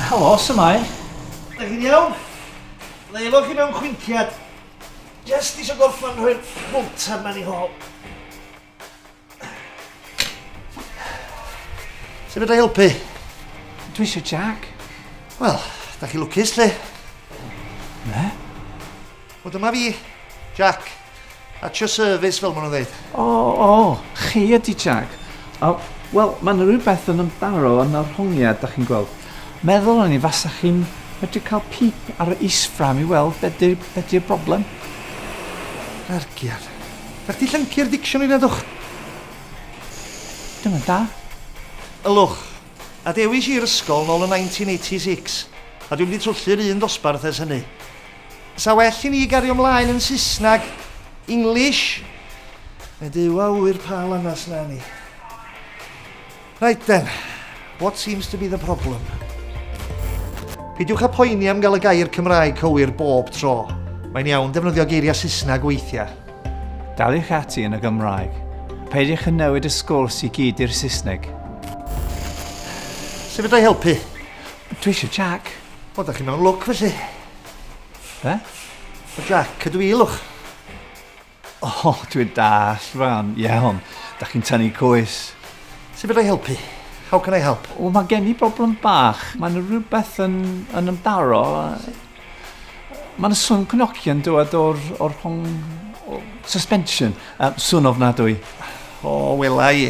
Helo, symau. Ydych chi'n iawn? Leilo chi mewn chwinciad. Just eisiau gorffan rhoi'r fwlter mewn i hol. Sut fydda i helpu? Dwi eisiau Jack. Wel, da chi lwcus lle. Ne? Wel dyma fi, Jack. At your service, fel maen nhw'n dweud. O, o, chi ydi Jack. O, wel, mae yna rhywbeth yn ymdaro yn yr hongiad, da chi'n gweld. Meddwl o'n i fasa chi'n medru cael pip ar y isfram i weld be di'r be di broblem. Rargiad. Da chdi llyncu'r dicsiwn i redwch? Dyna da. Ylwch, a dewis i'r ysgol nôl yn 1986, a dwi'n mynd i twllur un dosbarth ers hynny. 'Sa well i ni gario mlaen yn Saesneg, English? Mae Duw a ŵyr pa lanast 'na ni. Right then, what seems to be the problem? Peidiwch â phoeni am gael y gair Cymraeg cywir bob tro. Mae'n iawn defnyddio geiriau Saesneg weithiau. Daliwch ati yn y Gymraeg. Peidiwch â newid y sgwrs i gyd i'r Saesneg. Sut fedra i helpu? Dwi eisiau Jac. O, da chi mewn lwc felly. Be? O, Jack, ydw i lwch. O, oh, dwi'n dall, Fran. Iawn, da chi'n tynnu coes. Sut byddai helpu? How can I help? O, mae gen i broblem bach. Mae'n rhywbeth yn, yn ymdaro. Mae'n swn cnocian dywed o'r, or hong... Or suspension. Um, swn ofnadwy. O, wela i.